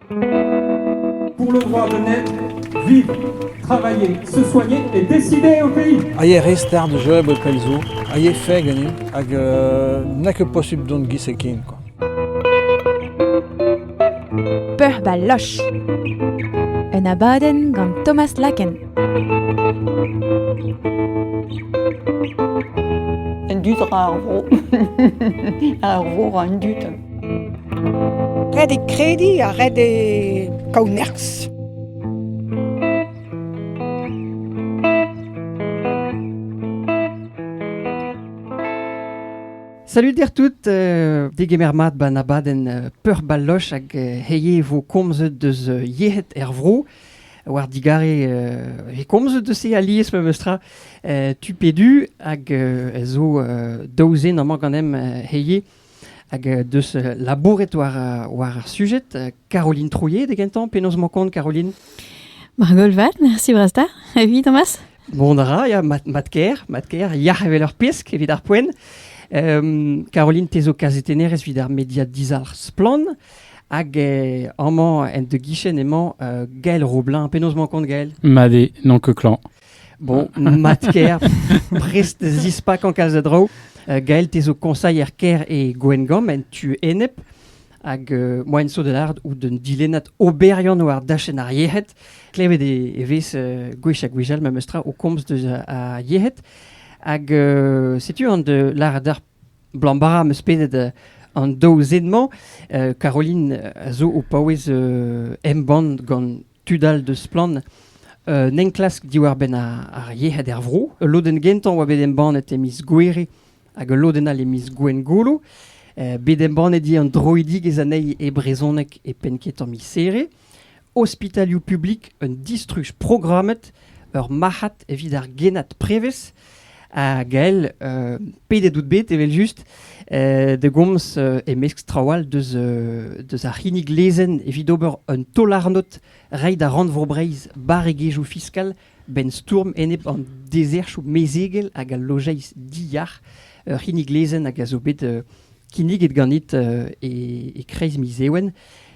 Pour le droit de naître, vivre, travailler, se soigner et décider au pays. A yé re start da jeu bod pell zo, a yé fae ganin, hag euh, n'a ket posubl dont gis e ken quoi. Peuc'h ba loch Un abadenn gant Thomas Laken Un dud ra ar vro. ar vro ra an dud. Ret eo krediñ ha ret eo kaout nerzh. Salut dir tout, euh, degemer mat ba an abadenn euh, peurbaloch hag euh, heie vo komzet deus euh, yec'hed er vro. War digare euh, e komzet deus se alies memes tra euh, tu pedu hag euh, zo euh, daouzien amañ ganem euh, heie Hag deus labouret war, war ar sujed, Caroline Trouillet da gentañ, penaos emañ kont Caroline Margol vat, merci Brasta. Evit Thomas Bon a ra, ya, mat, mat ker, mat ker, yac'h evel ur pesk evit ar poent. Um, Caroline, te zo kazetennerez evit ar media dizalc'h Splan, hag eh, amañ en de guichet emañ uh, Gael Roblin. Penaos emañ kont Gael Made, non que clan. Bon, mat-ker, prest zispakañ kalz a draoù. Uh, Gael, te zo koñsailher kêr e Gwengamp, en tu enep. Hag uh, moa en so da lâret out d'un dilennad oberiant war dachenn ar yec'hed. Klevet e, e vez uh, gwech ha gwech all memes tra o komz deus ar yec'hed. Hag uh, setu an de lâret ar blambara meus pennet uh, an daou zen-mañ. Uh, Caroline a zo o paouez uh, embann gant tud all deus Splann n'enklask diwar-benn ar yec'hed er vro. Ul lodenn gentañ oa bet embannet e miz Gouere hag ul lodenn all e miz Gwengolo. bet embannet eo an droidigezh anezhi e brezhoneg e penn-ketañ miz-Here. Ospitalioù publik un distruj programmet, ur marc'had evit ar genad prevez. Ha Gael, euh, pedet out bet evel-just euh, da gomz euh, e-mesk traoù all deus, euh, deus ar c'hinnig lezenn evit ober un taol-arnod reiñ da Rannvro Breizh barregezhioù fiskal benn stourm enep an dezerchoù mezegel hag al lojeiz diyac'h. Ur c'hinnig lezenn hag a zo bet euh, kinniget ganit euh, e, e kreiz miz Ewen.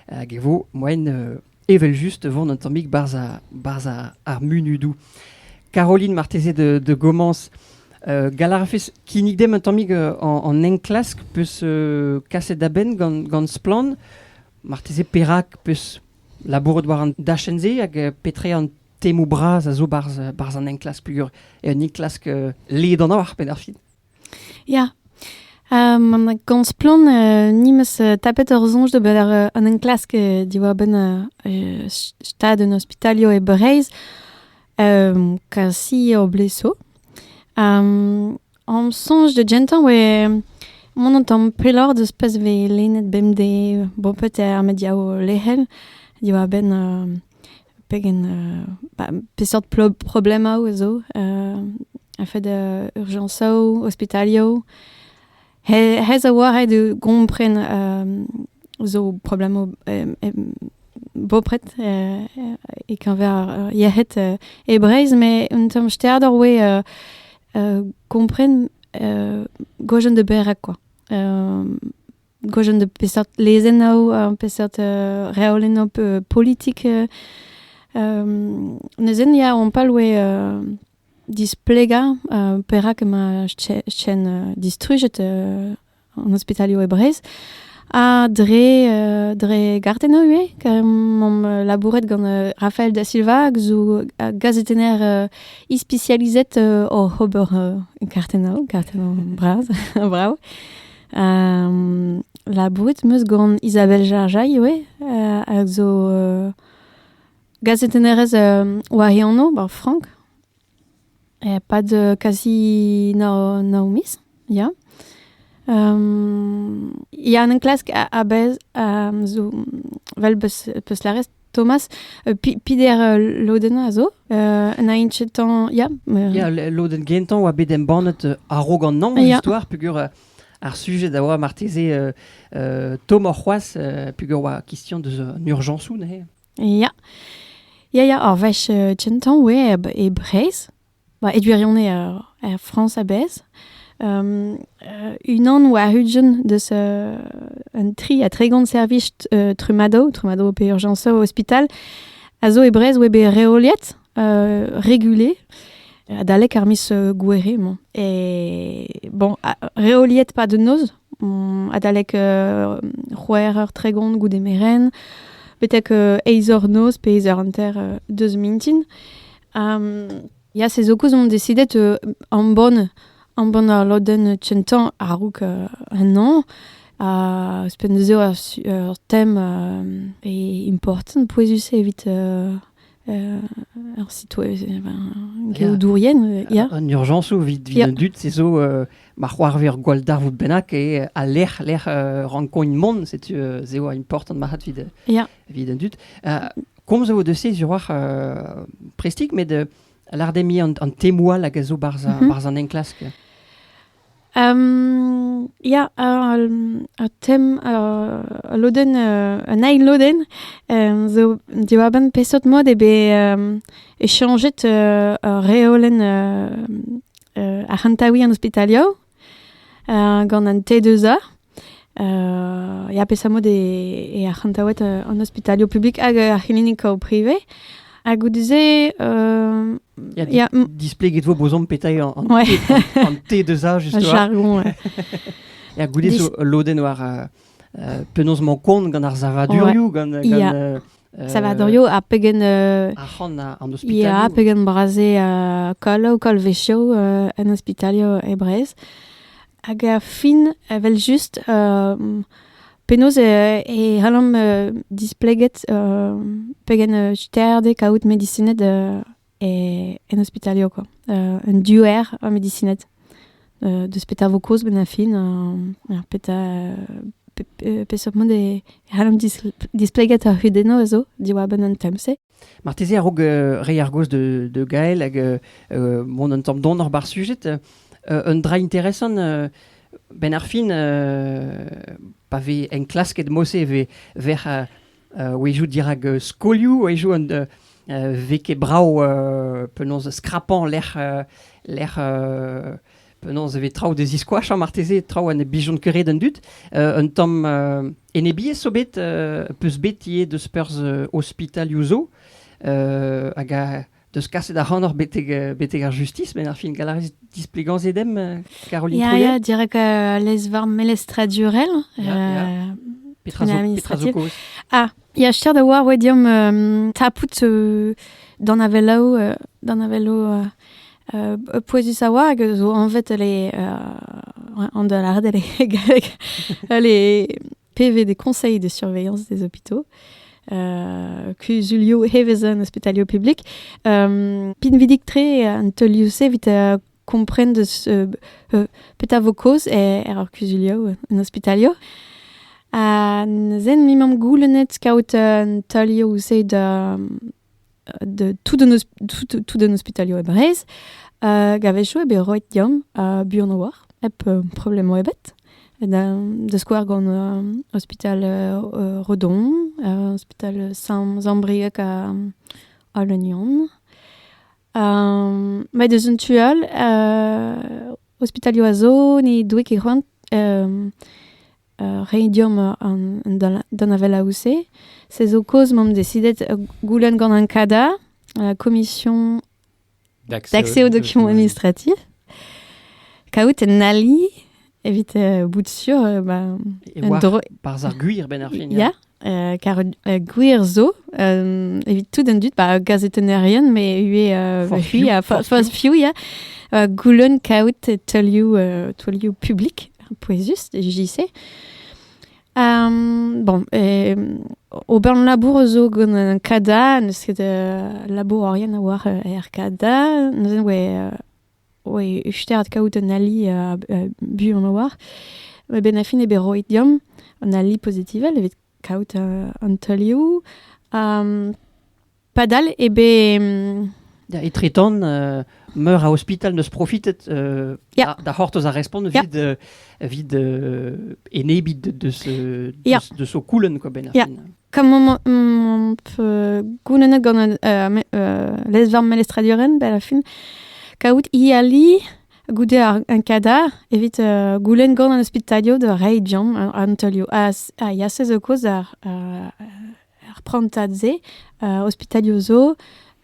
Hag e vo moen euh, evel-just vont un tammig barzh ar, barzh ar, ar munudoù. Caroline, marteze de, de Gomañs, uh, gall a rafes kinnig demp un tammig uh, an enklask peus uh, kaset da benn gant, gant Splann. Marteze perak peus labouret war an dachenn-se hag uh, petre an temoù bras a zo barzh barzh an enklask peogwir e un enklask uh, ledan ar penn ar fin. Ya, ma komz splann ni 'meus tapet hor soñj d'ober an enklask diwar-benn stad an ospitalio e Breizh, kasi o bleso. Hom soñj da gentañ oe mont an tamm pelloc'h deus pezh vez lennet bemdez, bon peut-être met div lec'hel diwar-benn Pegen ba, peseurt problemaoù a zo a-fed urjañsoù, ospitalioù. Hez a oa ret e gompren zo problemaoù bopret e keñver ar yec'hed e Breizh, met un tamm sterd ar oe gompren goajen de berak quoi. gwejenn de peseurt lezennaoù, peseurt reolennoù politik. nezen ya, on palwe displegañ perak emañ chen distrujet an ospitalioù e Breizh. Ha dre, euh, dre gartennoù ivez. Omp euh, labouret gant euh, Rafael da Silva, hag zo gazetenner ispisializet oc'h ober gartennoù, gartennoù bras, brav. labouret 'meus gant Isabelle Jarjail ivez hag zo gazetennerez war he anv, ba Frank. E-pad kasi Naomis, ya. ya, 'n enklask a-bezh zo, 'vel 'peus peus lâret, Thomas, uh, Pider uh, loden a zo, uh, na inchetan, ya. Yeah. Yeah, loden gentañ oa bet embannet uh, a-raok an naon yeah. histoire, pugur uh, ar sujet da oa marteze uh, uh, tomor c'hoaz, uh, pugur oa question deus un urjansou, ne? Ya. Ya, ya, ar vech uh, gentan, ouais, e, e Breizh, ba, e gwirionez er, Frañs a-bezh. Um, uh, unan oa hugen deus uh, un tri ha tregont servij uh, trumadoù, trumadoù pe urjañsoù ospital, a zo e Brest oa bet reoliet, uh, regulé, adalek ar miz uh, gouere mañ. E bon, reoliet pas de noz, mm, adalek uh, c'hwec'h eur tregont goude meren, betek uh, eizh eur noz pe eizh eur hanter uh, deus mintin. Ya, se zo koz on desidet euh, ambon, ambon ar lodenn kentañ a-raok euh, ennañ. Ha ouzhpenn neuze ur su- ur tem euh, e important, pouezus-se evit euh, euh, ar sitweb, eh ben, geodourien, euh, ya. An urjañs ou vit vit Yeah. an dud, se zo euh, ma c'hoarver gwall darvoud bennak e al lec'h lec'h euh, rankogn mont, setu euh, se oa important marc'hat vit euh, Ya. evit an dud. komz vo de se zuroac'h uh, prestik, met uh, lardemi an, an temoal hag a zo barz, mm -hmm. barz an enklask. Um, ja, uh, tem, uh, loden, uh, un ail loden, um, zo diwaben pesot mod e be um, e chanjet uh, reolen uh, uh, arc'hantawi an hospitalio, gant an te deus a ya pesamod e ar c'hantaouet an ospitalio publik hag ar c'hlinikaoù prive ha goude-se euh, ya, displegit vo bozomp petai an, an, ouais. an te deus a justement jargon ya goude zo loden war uh, penaos man kont gant ar savadurioù ouais. gant, gant yeah. uh, Salvadorio ha pegen... Ya, pegen brase uh, koll ou koll vesio uh, en hospitalio e Brez. Hag a fin, evel just, uh, penaos e, e c'hallomp uh, displeget uh, pegen uh, sterde kaout medisined uh, e, en hospitalia, quoi. Uh, un duer a medicined. Uh, deus petra vo kaoz ben a fin, uh, ar petra, pe, pe, peseurt mod e, e c'hallomp displegat ar hudenno a zo diwar-benn an tem-se. Marteze a-raok uh, reiñ ar gaoz de, de Gael hag uh, uh, bon, un tamm donor bar sujet, uh, un dra interesant, uh, ben ar fin, uh, pa ve enklasket mose ve, ver uh, a-wezhioù dirak skolioù, a-wezhioù un vez ket brav penaos skrapañ lec'h lec'h penaos e vez traoù da ziskoachañ marteze, traoù ha ne blijont ket re d'an dud. un tamm enebiezh zo bet, peus bet ivez deus perzh ospitalioù zo, hag a deus kaset ac'hanoc'h betek, euh, betek ar justis, met ar fin gall a rez displegañ se demp, euh, Caroline Ya, Trouillet? ya, direk euh, lez war melestradurel. Ya, ya. euh, Petra zo, petra zo koz? Ah, ya, cher da war oa deomp euh, tapout euh, d'an avelaou, euh, d'an avelaou euh, euh, pouezus a oa, hag zo anvet les, euh, an da lâret, les, galleg, les PV des conseils de surveillance des hôpitaux. Uh, kuzulioù hevezen ospitalioù publik. Um, pinvidik tre an teulioù-se vit uh, kompren deus uh, uh, petra vo kaoz er, er ar kuzulioù en ospitalioù. Ha zen mi mam goulennet kaout un teulioù-se da de tout an, tout, tout an ospitalio e Breizh. Uh, gavechou eo bet roet deomp uh, buan a-walc'h, hep uh, problemo ebet. Da, da skouer gant uh, ospital uh, Redon, uh, ospital Saint-Zambriac ha, ha Leunion. Um, Met eus un tu all, uh, ospitalio a zo, ni doe ket c'hoant um, Reiñ deomp an danavelaoù-se. Se zo kaoz m'omp desidet goulenn gant an CADA, la Commission d'accès aux documents administratifs, kaout un ali evit bout sûr... Par ar gwir, benn ar fin, ya. car gwir zo, evit tout an dud, ba gazetennerien, me ue hui a foz fiou, ya, goulen kaout teuliou, teuliou publik, pouezus, JC. Um, bon, e, ober labour zo gant un kada, neus ket uh, labour orien a war uh, er kada, neuzen oe uh, oe ustiart kaout un ali a buan a-walc'h. Eben a fin eo bet roet deomp an ali pozitivel evit kaout an teulioù. padal eo bet... Da etretant, euh, meur a ospital n'eus profitet euh, da, da c'hortoz a respont evit, yeah. uh, evit uh, enebiñ de, de, ce, de, de, ce coulenn, quoi, ben ar fin. Comment goulennet gant lezvarm melestradurel bel a fin kaout ali goude un kadar evit goulenn gant an ospitalioù da reiñ deomp an teulioù. Ha yasez zo koz ar prantad-se, ospitalioù zo.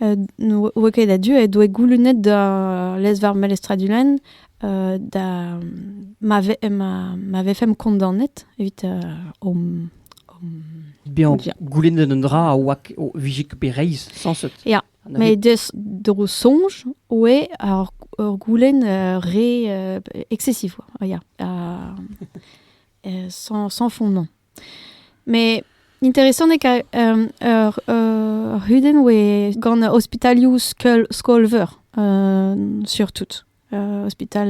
ne oa ket a-du he doe goulennet da lezvarr Melestra Dulenn da ma ve- ma vefemp kondaonet evit hom Bezañ goulennet un dra a oa o vije ket bet reizh sañset. Ya, met des- d'ho soñj oe ur ur goulenn re excessif oa, ya, sans sans fondement. Met interesant eo kaout ur c'hudenn oe gant ospitalioù skol-veur surtout. ospital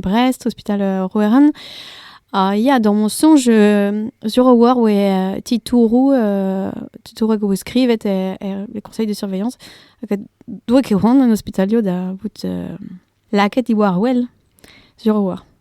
Brest, ospital Roeran. Ha ya, da ma soñj, sur a-walc'h oe titouroù titouroù e vo skrivet er conseil de surveillance. Hag doa ket c'hoant an ospitalioù da vout lakaet diwar-wel, sur a-walc'h.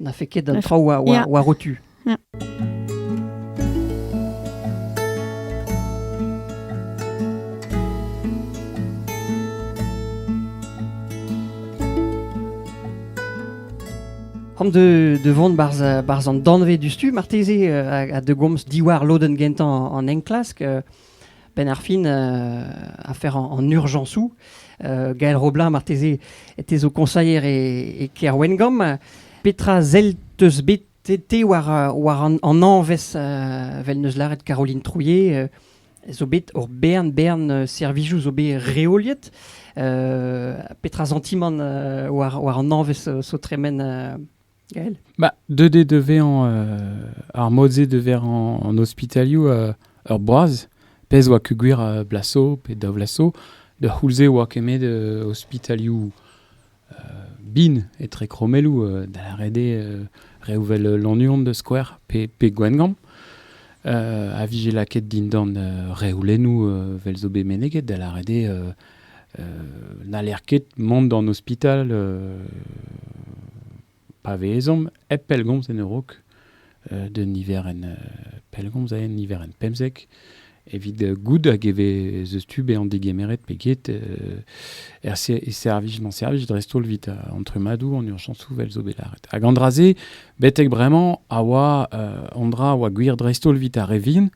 N'afe ket an traoù war o tu. Hom de, de vont barz, barz an danvez du stu, marteze, euh, a, a de gomz diwar lodenn gentañ an enklask. Euh, benn ar fin afer an urjañsoù. Gael Roblin, marteze, te zo koñsailher e, e Kêr Wengamp. Petra sell teus bet te war, war an, an añvezh, vel neus lâret Caroline Trouillet, zo bet hor bern bern servijoù zo bet reoliet. petra santimant war, war an añvezh zo tremen Gael bah, Deuet eo da vezañ euh, ar mod-se da vezañ an ospitalioù euh, ur boaz. Pezh oa kugwir uh, Blasso pe da Vlasso. Da c'houlze oa kemet uh, ospitalioù uh, bin etre kromelloù uh, da ret eo uh, reouvel Lannuon da skouer pe, pe Gwengamp. Uh, a vije lakaet dindan uh, reoulennoù uh, vel zo bet meneget da lâret eo uh, n'haller ket mont d'an ospital pa vez ezhomm hep pellgomz en ur raok d'un niverenn pellgomz en niverenn pemzek evit goût hag e vez eus tu bezañ degemeret pe get er servij d'an servij dreist-holl evit an trummadoù an urjañsoù vel zo bet lâret hag an dra-se betek bremañ a oa an dra a oa gwir dreist-holl evit ar re vihan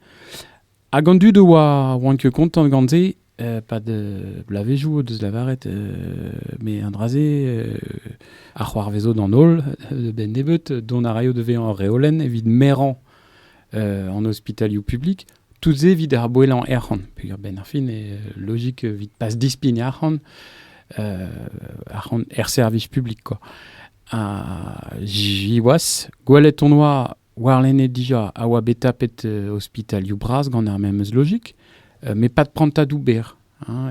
Hag an dud a oa, a oant ket kontant gant se, euh, pas de blavezhioù o deus lavaret, euh, mais un dra-se, euh, a c'hoarvezo d'an holl, de ben nebeut, dont a raio de vezañ ur reolenn evit merañ euh, an ospitalioù publik, tout se evit ar boellañ ec'hon, peger ben ar fin, e logik evit pas dispign arc'hant, euh, arc'hant er servij publik, quoi. Uh, Jiwas, gwelet on oa Warlene dija a oa bet tapet euh, ospitalioù bras gant ar memes logik, euh, met pas de prantadoù berr. Hein,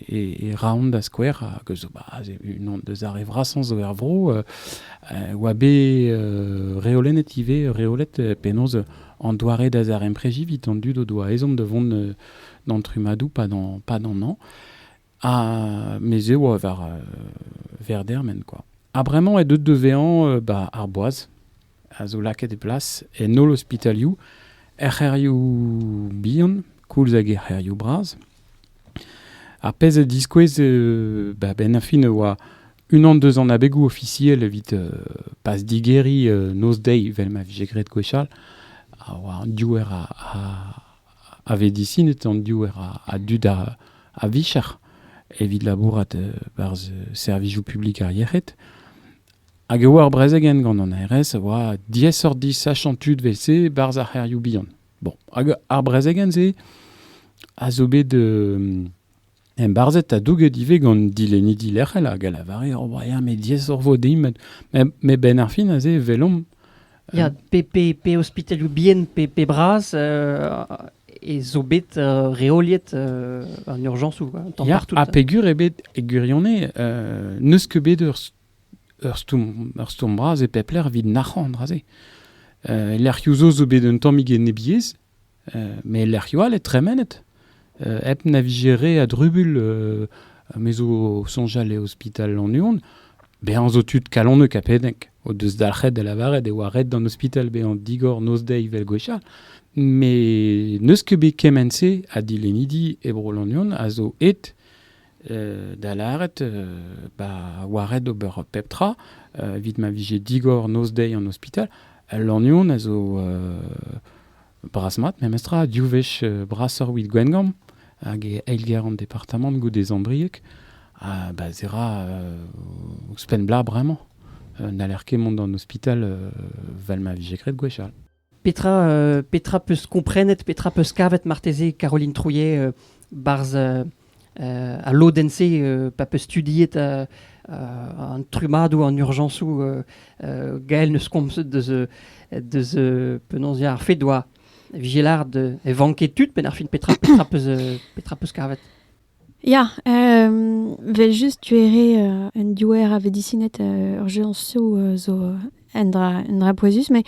et, et, raon da skouer, que zo bah, un deus ar vrasons zo er vro, euh, euh, oa bet euh, reolen et ive reolet euh, penaos an doare da zarempreji vit an dud o doa ezom de vont euh, d'an trumadou pas d'an pas d'an an. Ha mes eo war euh, verdermen quoi. Ha bremañ eo deuet da vezañ ba ar boaz a zo lakaet e plas en holl ospitalioù, er c'hêrioù bihan koulz hag er c'hêrioù bras. Ar pezh a diskouez euh, ba ben a fin e oa unan deus an abegoù ofisiel evit euh, pas digeriñ euh, noz-deiz vel ma vije graet gwechall, a oa diouer a, a, a vedisined an diouer a dud a-vicher evit labourat barzh servijoù publik ar yec'hed. Hag e oa ur brezegenn gant an ARS a oa diaesoc'h disachañ tud wese barzh ar c'hêrioù bihan. Bon, hag ar brezegenn-se a zo bet Embarzhet ha douget ivez gant dilennidi lec'hel hag a lavare ur briad met diaesoc'h vo din met benn ar fin aze e welomp. Ya, pe, pe, pe ospitalioù bihan pe, pe bras e zo bet reoliet en urjañsoù hein, tamm ya, partout. Ha pegur ebet e gwirionez n'eus ket bet ur ur stourm, ur stourm bras e pep lec'h evit nac'hañ aze. Uh, lec'hioù zo zo bet un tammig enebiezh, Met lec'hioù all eo tremenet. hep na vije re a drubul me zo o soñjal e ospital Lannuon, bezañ zo tud kalonek ha pedek o deus dalc'het da lavaret e oa ret d'an ospital bezañ digor noz-deiz evel gwechall. Met n'eus ket bet kement-se ha dilennidi e bro Lannuon a zo aet da lâret ba oa ret ober pep tra evit ma vije digor noz-deiz an ospital al lannion a zo bras-mat memestra div wech brasoc'h 'wit Gwengamp hag e eilgêr an departamant goude Zambrieg ha ba se ra ouzhpenn 'bla bremañ n'haller ket mont d'an ospital 'val ma vije graet gwechall. Petra, euh, petra peus komprenet, petra peus kavet marteze, Caroline Trouillet, euh, barzh euh, euh, a lodenn-se euh, pa peus studiet euh, euh, an trumadoù, an urjañsoù euh, euh, Gael neus komzet deus, euh, deus euh, penaos ya, ar fet doa vigilard euh, e vanke tud, penn ar fin petra, petra peus, euh, petra peus kavet Ya, vel-just tu eo re un diouer a vedisined ur jañsoù zo un dra un dra pouezus met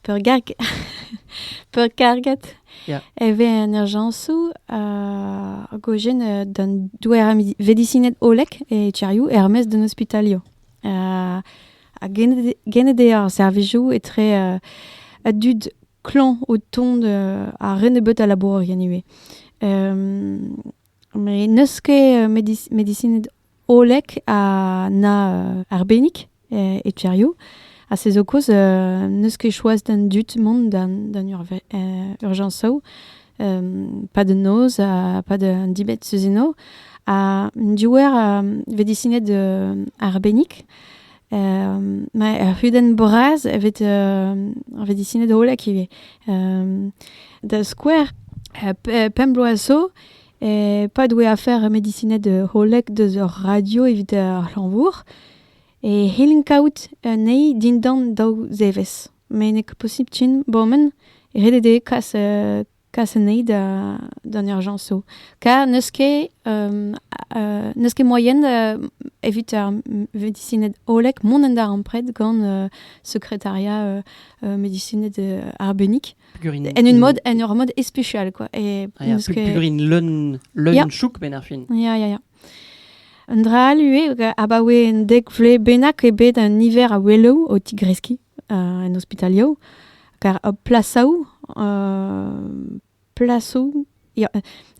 peurgarg peurkarget e vez an urjañsoù hag o jen d'un diouer a vedisined hollek e Etiarioù er-maez d'un ospitalio. Ha genet eo ar servijoù etre a dud klañv o tont ha re nebeut a labourerien ivez. met n'eus ket medisined hollek ha na arbennik e Tcherrio. Ha se zo kaoz n'eus ket choaz d'an dud mont d'an urjañsoù. pas de noz ha pas d'un dibet eus eno. Ha diouer a vedisined arbennik. ma ur c'hudenn bras a vez disinet hollek ivez. da skouer, pemp bloaz zo, pad oe afer medisinet hollek deus ur radio evit ar c'hlanvour, e c'hellin kaout anezhi dindan daou zevezh. Met nek posibl tin bomen ret eo dezhe kas Kas anezhi d'an urjañsoù. Kar n'eus ket n'eus ket moaien evit ar medisined hollek mont en darempred gant sekretariat medisined arbennik. En un mod, en ur mod especial, quoi. Et ah, Purin leun, leun chouk, ben ar fin. Ya, ya, ya. Un dra all ivez, abaoe un dek vle bennak eo bet un niver a weloù o tigreskiñ en ospitalioù. per plasaoù plasoù ya,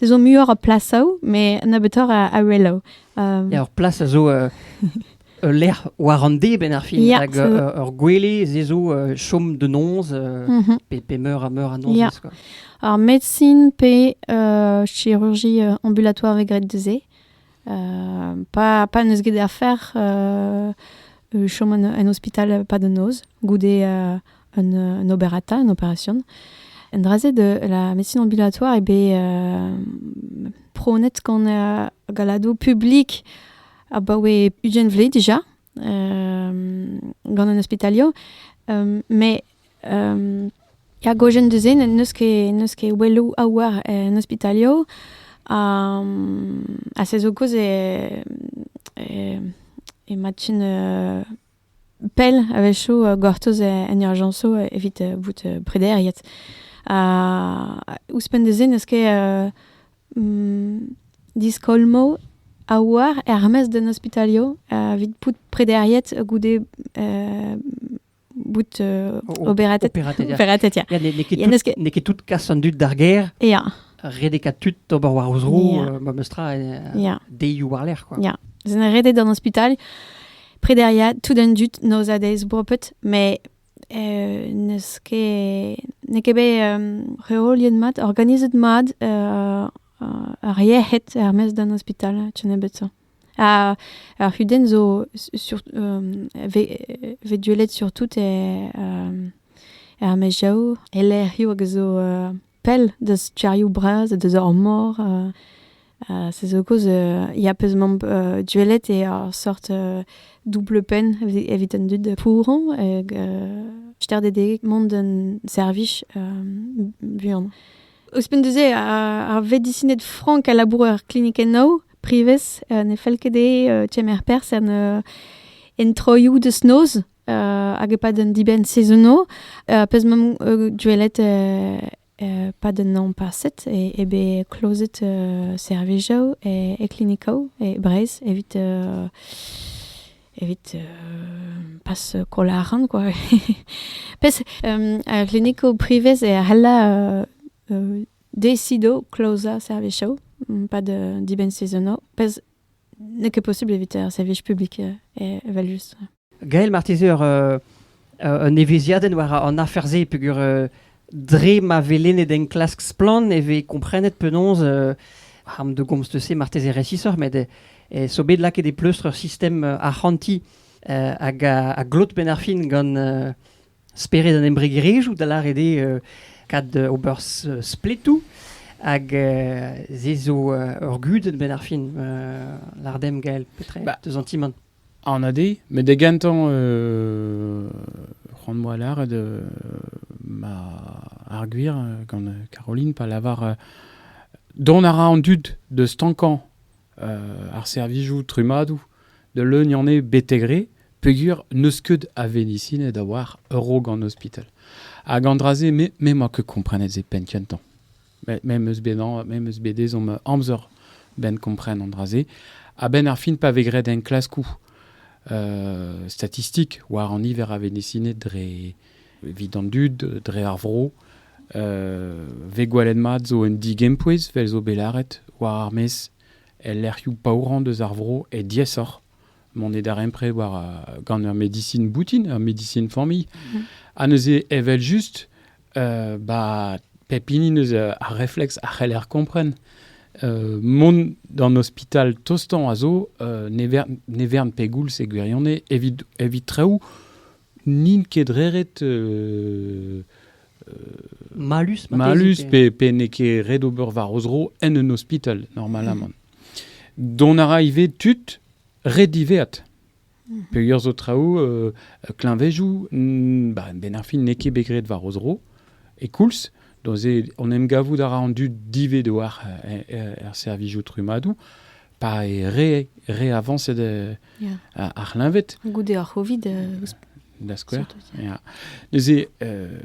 ez zo muioc'h a plasaoù, met nebeutoc'h a, a reloù. Um, ur plas a zo uh, ul lec'h war an deb en ar fin, yeah, hag uh, ur gwele ze zo uh, chom de noz, uh, mm -hmm. pe, pe meur a meur a noz. Yeah. Ar médecine pe uh, chirurgie ambulatoire vez graet de se. pa, pa n'eus get afer chom en ospital pas da noz goude un, un oberata, une opération. Un dra-se de la médecine ambulatoire eo bet pronet gant uh, galadoù publik abaoe ugent vle déjà uh, gant un ospitalio. Um, mais ar gojenn du-se n'eus ket n'eus ket oueloù a oar en ospitalioù. Ha se zo kaoz emañ tu pell a-wechoù gortoz en urjañsoù evit bout prederiet. Ouzhpenn da-se n'eus ket diskolmoù a oar er-maez d'un ospitalioù evit bout prederiet goude bout uh, oberatet. Operatetia. Ya, n'eo ket tout kas an dud d'ar gêr. Ya. Redeka tud ober war o zro, yeah. uh, memes tra, uh, deiou war-lerc'h, quoi. Ya. Zen redet an ospital. Prederia, tout un dud, nozadez bopet, mais euh, n'eus ket n'eo ket bet um, reoliet mat, organizet mat uh, ar yec'hed er-maez d'an ospital, tu nebet ça. Ha ar c'hudenn zo sur, vez deuet surtout er er maezioù, e lec'hioù hag a zo pell deus tierioù bras ha deus ar mor. se zo kaoz ya peus mamp deuet e ur sort double penn evit an dud pouron hag stardedeg mont d'un servij buan. Ouzhpenn deus-se, ar vedisined frank a labour er klinikennoù. privez, uh, ne fell ket dezhe kemer perzh en, en troioù deus noz, hag e-pad un dibenn sezono, pezh m'am gwelet pad un an paset e, e bet klozet uh, servijoù e, e klinikoù e Breizh evit uh, evit uh, pas kolaran quoi. Pes um, a kliniko privez e a hella uh, uh, Decido klozañ servijoù pad dibenn sezonoù pezh n'eo ket posubl evit ar servij publik evel-just. Gael, marteze ur un evezhiadenn war an afer-se peogwir dre ma vez lennet enklask Splann! e vez komprenet penaos arm de gomz-se marteze resisoc'h met zo bet lakaet e pleustr ur sistem arc'hantiñ hag a glot penn ar fin gant Spered an embregerezhioù, da lâret eo kad ober spletoù. Hag se zo ur gudenn benn ar fin, l'Ardemgael, petre, bah, deus an ti-man. An ade, met da gantañ, c'hoant-moi lâret, ma ar gwir gant Caroline, pa lavar, dont a ra an dud da stankañ ar servijoù trummadoù da leuniañ eo betek re peogwir n'eus ket a vedisined a oar ur raok an ospital. Hag an dra-se, me n'emañ ket komprenet se penn kentañ. Me meus bet me meus bet ezhomm amzer benn kompren an dra-se. A-benn ar fin pa vez graet enklaskoù statistik war an niver a vedisined dre evit an dud dre ar vro. Ve gwelet mat zo un digempouez vel zo bet lâret war ar maez el lec'hioù paourañ deus ar vro e diaesoc'h mont e darempred war uh, gant ur medisin boutin, ur medisin familh. Mm Ha neuze evel-just, uh, ba pep hini neus uh, ar reflex a c'heller kompren uh, mont d'an ospital tostañ a zo uh, ne, vern, ne vern pe goul e gwirione evit, evit treoù N'int ket reret malus, malus pe, pe n'eo ket ret ober war o zro en un ospital normalamant. Dont a ra ivez tud ret diveat. Mhm. Peogwir zo traoù, euh, kleñvezoù, ba, ben ar fin n'eo ket bet graet war o zro, e koulz. Donc, on em gavout a ra an dud dived war er, er, er servijoù trumadoù. pa e re reavañset yeah. ar c'hleñved. Goude ar Covid. Uh, da skouer. Yeah. Neuze, euh,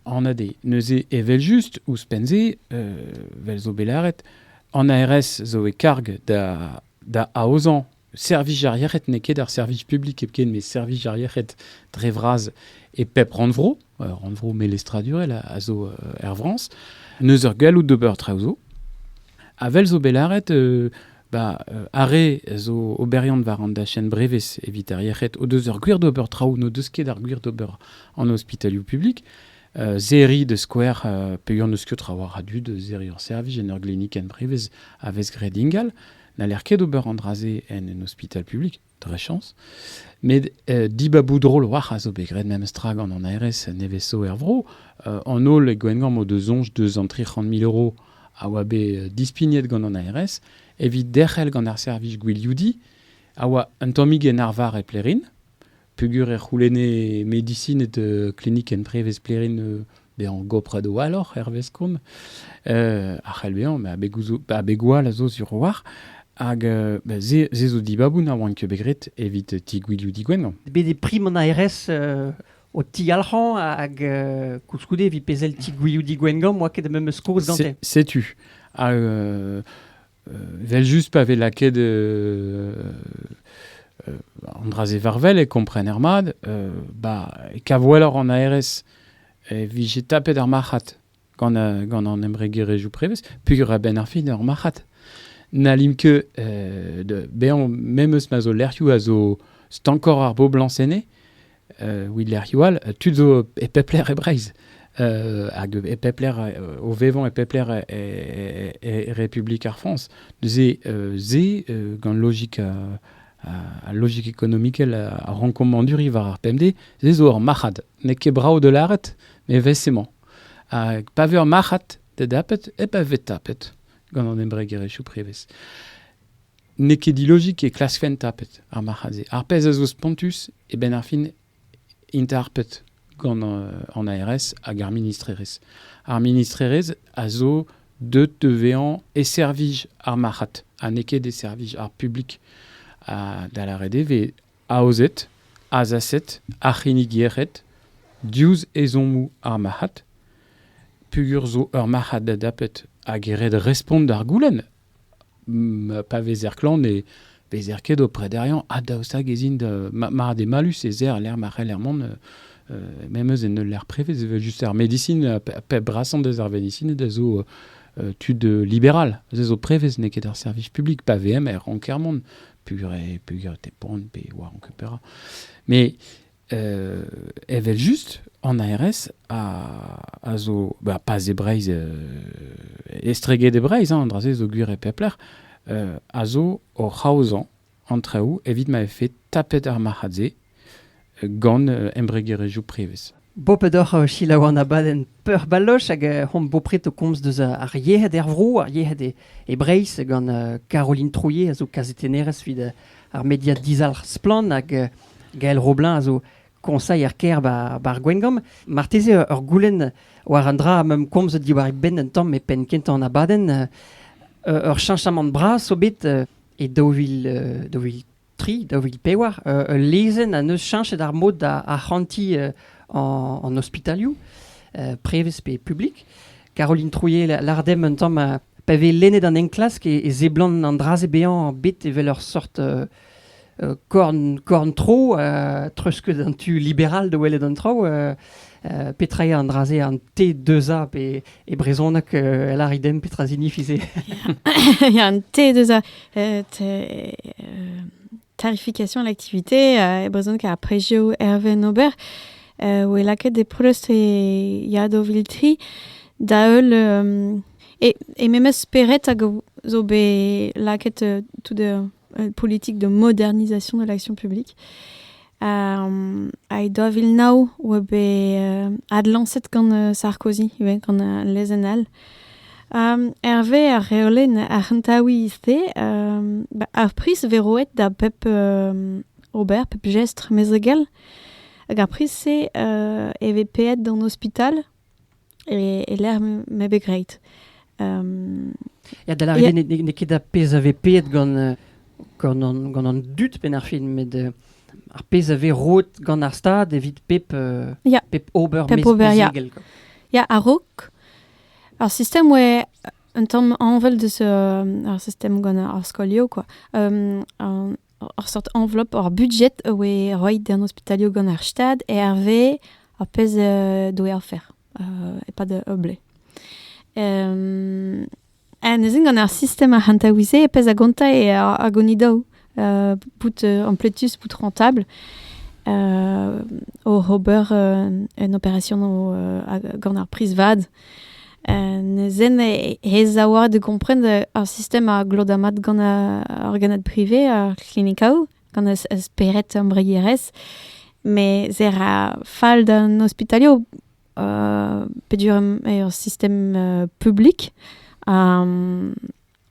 en ade, neuze evel just, ouzhpenn-se, euh, vel zo belaret, an ARS zo e karg da, da aozan servij ar yec'hed n'eo ket ar servij publik epken, mais servij ar yec'hed dre vras e pep rannvro. ur rannvro melestradurel a zo er Frañs. Neus ur galloud d'ober traoù zo. Avel zo bet lâret ba, are zo oberiant war an dachenn brevez evit ar yec'hed o deus ur gwir d'ober traoù n'o deus ket ar gwir d'ober an ospitalioù publik. Uh, zeri de skouer uh, peger n'eus ket traoù a radu de zeri ur servij en ur glinikenn brevez a vez graet ingal n'aller ket ober an dra-se en un ospital publik. dre chans. Met euh, dibaboù drol war a zo bet graet memestra gant an ARS nevez-so er vro. Euh, an holl e Gwengamp o deus zonj deus an 300.000 euro a oa bet euh, dispignet gant an ARS evit derc'hel gant ar servij Gwilioudi a oa un tammig en arvar e Plerin. Pugur e c'houlenne medisin et euh, klinikenn prevez Plerin euh, bezañ goprad walloc'h hervez komz, a c'hell bezañ, met abeg gwall a zo sur war. Hag se, se zo dibaboù na oant ket bet graet evit ti Gwilhoù Digwenn. Bet eo prim an aerez o tiyalc'hañ hag koulskoude evit pezhel ti Gwilhoù Digwenn gant, oa ket da memes kaoz gante. Setu. Evel-just, pa vez lakaet an dra-se varvel e kompren ermad, bah, e kavoellor an aerez e vije tapet ar marc'had gant, gant an embregerezhioù prevez, peogwir a-benn ar fin ur marc'had. N'hallim ket, bezañ, me meus ma zo lec'hioù a zo stankoc'h ar boblañs enne, Wheeler-Hewell, tud zo e pep lec'h e Breizh. hag e pep lec'h, o vevañ e pep lec'h e, Republik ar Frañs. Neuze, se, gant logik a logik ekonomikel a rankomanduri war ar pemdez, se zo ur marc'had. N'eo ket brav de lâret, met vez emañ. Hag pa vez ur marc'had, da dapet, e pa vez tapet gant an embregerezhioù prevez. N'eo ket dilozig e klaskfent tapet ar marc'had-se. Ar pezh a zo spontus, e benn ar fin int harpet gant an ARS hag ar ministrerezh. Ar ministrerezh a zo deut da vezañ e servij ar marc'had ha n'eo ket e servij ar publik. Da lâret eo vez aozet, azaset ar c'hinnig-yec'hed diouzh ezhommoù ar marc'had peogwir zo ur marc'had adapet hag e red respont d'ar goulenn. pa vezer klan ne vezer ket o prederiañ ha daoust hag ez int mard eo mallus ez eo lec'h ma c'heller mont memes en ul lec'h privé ez evel just ar medisin pep brasañ deus ar medisin ez zo tud liberal ez zo prevez n'eo ket ar servij publik pa vm er ranker mont pur et pur te pont pe war ankupera mais evel-just, an ARS a, a zo, bah, pas e Breiz, estreget e Breiz, an dra-se zo gwir e peplec'h, a zo o c'haozañ an traoù evit ma vefe tapet ar marc'had-se gant embregerezhioù prevez. Bo pedoc'h euh, selaou an abadenn peurbaloch hag euh, hon bopret o komz deus euh, ar yec'hed er vro, ar yec'hed e, e Breizh gant Caroline Trouillet a zo kazetennerez evit ar media dizalc'h Splann! hag Gael Roblin a zo koñsailher kêr bar Gwengamp. Marteze ur goulenn war un dra am eus komzet diwar e benn un tamm e penn kentañ an abadenn. ur cheñchamant bras zo bet e daou vil tri, daou vil pevar, ul lezenn a neus cheñchet ar mod da arc'hantiñ an ospitalioù, prevez pe publik. Caroline Trouillet, lardem un tamm Pa vez lennet an enklask e, e seblant an dra-se bezañ bet evel ur sort euh, euh, korn, korn-tro, euh, treuzkeud an tu liberal da welet an traoù. euh, euh, petra eo an dra-se, an T2A pe e brezhoneg euh, el aridem petra signifie se Il y a un T2A. euh, t- euh, Clarification l'activité, e brezhoneg ar prezioù Herven Ober, oe lakaet e preust e Yadoviltri da heul e, e memes spered hag zo bet lakaet tout e politik de modernisation de l'action publique. Hag daou vil nav oa bet adlañset gant Sarkozy ivez, gant lezenn all. Hervez ar reolenn ar c'hentaouiz-se, ar priz vez roet da pep ober, pep jestr mezegel. Hag ar priz-se e vez paeet d'an ospital e-lec'h m'eo bet graet. Ya, da lâret n'eo ket ar pezh a vez paeet gant, gant, an, gant an dud penn ar fin, met ar pezh a vez roet gant ar Stad evit pep, pep ober mezegel. Ya, a-raok Ar sistem oa un tamm anvel deus ar sistem gant ar skolioù kwa. ur seurt enveloppe, ur budjet a oe roit d'an ospitalioù gant ar Stad hervez ar pezh doe afer e-pad ur blez. Neuze gant ar sistem arc'hantaouiñ-se e pezh a gonta eo ar gonidou bout ampletus, bout rentable oc'h ober un operasion gant ar priz vat. Neuze he zaouarn da gompren ar sistem a glot mat gant ar gannad prive, ar c'hlinikou, gant ar spered embregerezh. Mes e ra fall d'an ospitalioù pedur er sistem publik. Um,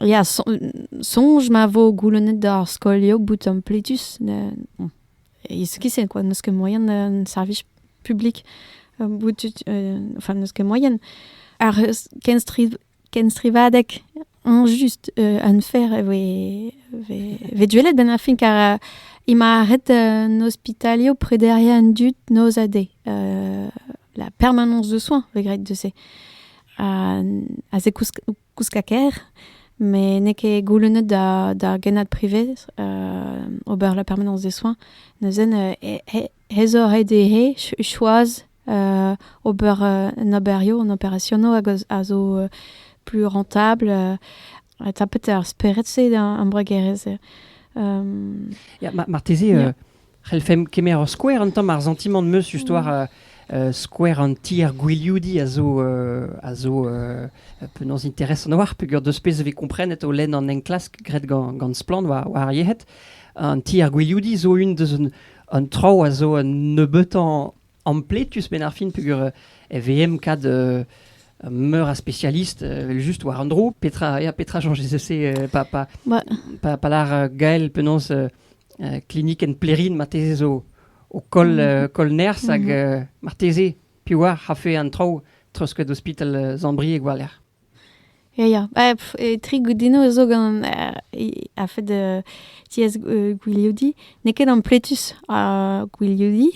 ya, soñj ma vo goulennet d'ar skolioù bout ampletus. Is kissen quoi, n'eus ket moyen un service public bout, enfin, n'eus ket moyen. Ar kenstrid Kenstrivadeg eñjust unfair e voe vez gwelet benn ar fin kar eo ma ret an ospitalioù prederiañ an dud noz ha deiz la permanence de soins vez graet deus-se ha se kouskaker met n'eo ket goulennet d'ar gennad privet ober la permanence des soins neuzen He zo ret dezhe choaz ober an oberioù, an operasionoù a zo plus rentablr ha tapet eo ar spered-se d'an embregerezh-se. Ya, marteze c'hellfemp kemer ur skouer un tamm ar santimant 'm eus histoire skouer an tier gwilioudiñ a zo a zo penaos interesant a-walc'h peogwir deus pezh vez komprenet o lenn an enklask graet gant Splann war ar yec'hed. An tier gwilioudiñ zo un deus an traoù a zo un nebeutañ ampletus benn ar fin peogwir e vehemp kat meur a spécialiste juste war un dro petra ya petra chañs se pa pa pa pa lar Gael penaos klinikenn Plerin marteze zo o koll koll nerzh hag marteze piv oar a fe an traoù treuzket ospital Sant-Brieg war-lerc'h Ya, ya, ah pff, e tri goudino zo gant a-fed tiez gwiliodi. N'eo ket ampletus ar gwiliodi.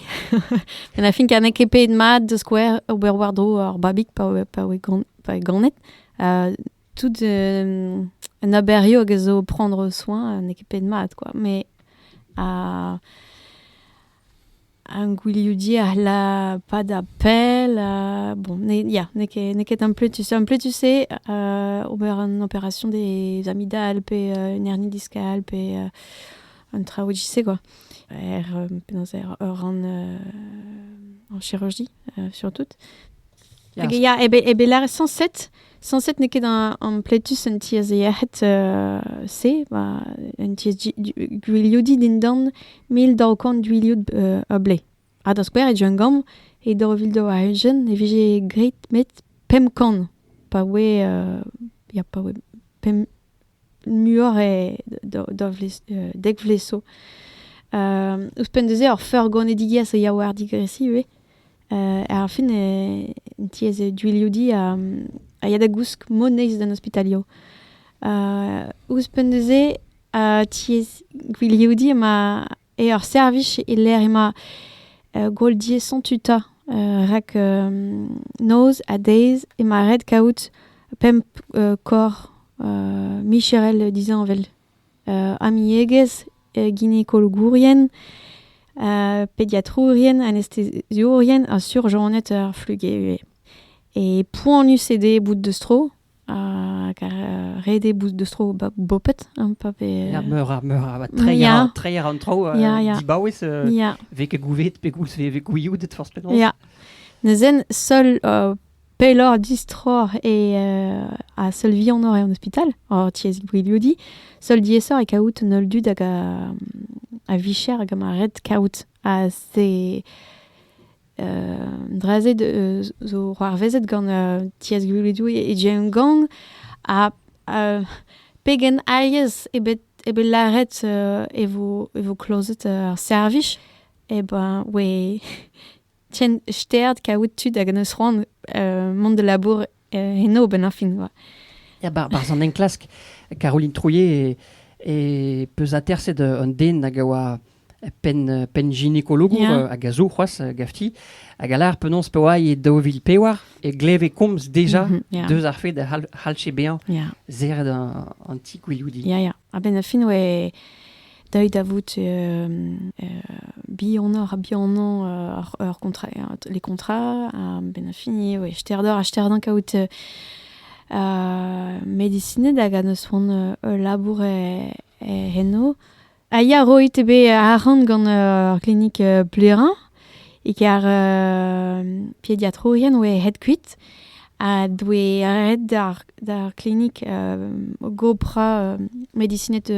Met a fin kar n'eo ket paeet mat, da skouer, ober war-dro ar babig pa oe pa oe gan- pa oe ganet. tout un aberio hag a zo prendre soin n'eo ket paeet mat, quoi. Mais a- Ar gwilioudiñ a c'hell padañ pell ha bon ya n'eo ket n'eo ket ampletus ampletus eo ober an opération des amygdales pe un hernie discale pe un traoù e-giz-se quoi er penaos er ur rann en chirurgie surtout. Hag ya, e be, e be lâret sañset. Sañset n'eo ket an, an pletus un tiez yec'hed uh, se, ba, un tiez gwilioudiñ dindan mil daou kant gwilioud uh, a ble. Ha da skouer e Djungam, e daou vil daou a ujen, e vije greit met pemp kant, pa oe, uh, ya, pa oe pemp, muioc'h e da vlez, dek vlez zo. Ouzhpenn da-se, ur feurgonedigiezh a ya war digresiñ ivez. ar fin e tiez e Duilhoudi a, a ya da gousk moneiz d'an ospitalioù. ouzhpenn da-se, tiez Gwilhoudi ema E ar servij e-lec'h emañ goaldiezhoñ tuta. rak noz ha deiz emañ ret kaout pemp korr micherel disheñvel. amiegezh, ginekologourien, pediatrourien, anesteziourien ha surjonned ar fluge ivez. E poanius eo dezhe bout deus tro Hag ret eo bout deus tro bopet, hein, pa vez... Ya, meur a, meur a, treiñ a, treiñ an tro, uh, dibaouez, uh, yeah. vez ket gouvet pe goulz vez gouiout forzh penaos. Ya, neuzen, seul uh, pelloc'h distroc'h e uh, ha seul vihanoc'h en ospital, hor tiez Gwiliodi, seul diaesoc'h e kaout un holl dud hag a, a vicher hag a ma ret kaout. Ha c'est Dra-se zo c'hoarvezet gant Tiez Gwilidoù e Jeongeong ha pegen alies eo bet eo bet lâret e vo e vo klozet ar servij e ben oe tient sterd kaout tud hag en deus c'hoant mont da labour Eno, benn ar fin, oa. Ya, bar, barz an enklask, Caroline Trouillet e, peus aterset un den hag a oa pen, pen ginekologour yeah. hag a zo c'hoaz gafti, hag a lar penaos pa oa e daou vil pewar, e gleve komz deja mm -hmm, yeah. deus ar fed a c'hall bezañ yeah. zeret an, an ti gwiloudi. Yeah, yeah. A-benn ar fin oe deuet da vout bihannoc'h ha bihanañ ur contrat, les contrats. A-benn ar fin oe steroc'h ha steroc'h kaout medisined hag a-neus c'hoant ul labour eno. A ya roit eo bet arc'hant gant ur klinik Plerin. E ker pediatrourien oe ret kuit ha doe ret d'ar klinik gopra medisinet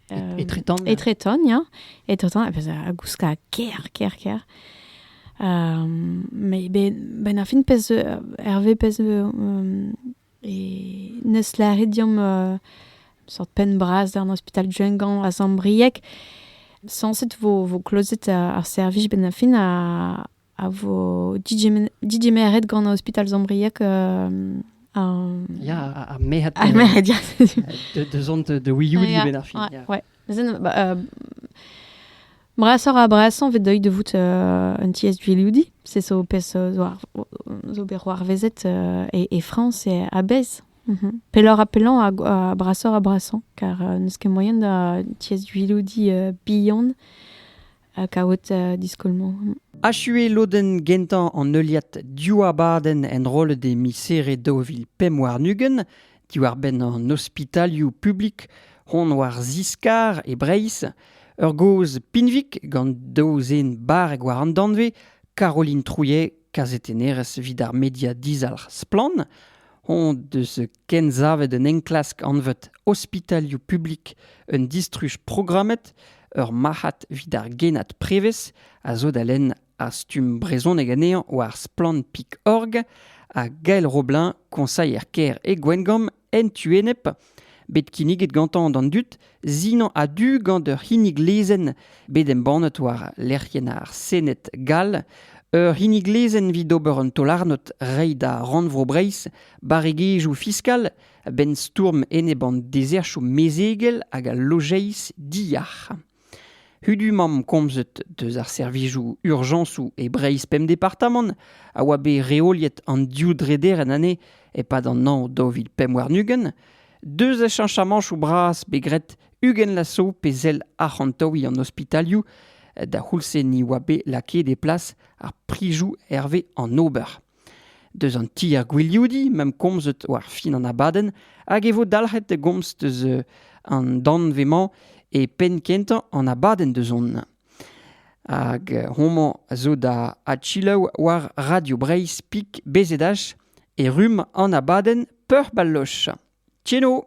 etretant etretant ya etretant a gouska ker ker ker mais ben ar fin pezh Hervé pezh E neus lâret deomp un seurt penn-bras d'an ospital Jungan a Zambrieg. Sañset vo, vo klozet ar servij benn ar fin a, a vo digemeret gant ospital Zambrieg an... Ya, ar merc'hed. Ar merc'hed, ya. De, de zont de wioudi benn ar fin. Ouais, ouais. Brasoc'h-ha-brasañ 'vit deuit da vout un tiez gwilioudiñ. Se zo pezh zo bet c'hoarvezet e Frañs a-bezh. Pelloc'h-ha-pellañ ha brasoc'h-ha-brasañ kar n'eus ket moaien da tiez gwilioudiñ bihan kaout diskoulmoù. Achu eo lodenn gentañ an heuliad div abadenn enrollet e miz Here daou vil pemp warn-ugent diwar-benn an ospitalioù publik hon war ziskar e Breizh, ur gaoz pinvik gant daou zen barrek war an danvez, Caroline Trouillet, kazetennerez evit ar media dizalc'h Splann, hon deus kensavet un enklask anvet Ospitalioù publik un distruj programmet, ur marc'had evit ar genad prevez a zo da lenn Ar stumm brezhonek anezhañ war splann.org ha Gael Roblin, koñsailher kêr e Gwengamp, en tu-enep, bet kinniget gantañ d'an dud zinañ a-du gant ur c'hinnig lezenn bet embannet war lec'hienn ar Sened gall, ur c'hinnig lezenn evit ober un taol-arnod reiñ da Rannvro Breizh barregezhioù fiskal a-benn stourm enep an dezerchoù mezegel hag al lojeiz diyac'h. Hudumamp komzet deus ar servijoù urjañsoù e Breizh pemp departamant a oa bet reoliet an div drederenn anezhe e-pad an hañv daou vil pemp warn-ugent, deus achañsamañtoù bras bet graet ugent lasso pe sell arc'hantaouiñ an ospitalioù da c'houlz-se ni oa bet lakaet e plas ar prizoù hervez an ober. Deus an ti ar gwilioudiñ 'ma'm komzet war fin an abadenn hag e vo dalc'het da gomz deus an danvez-mañ e penn-kentañ an abadenn deus on. Hag homañ a zo da adselaou war Radio Breizh Pik BZH e rumm an abadenn Peuc'h Baloch. Tcheno!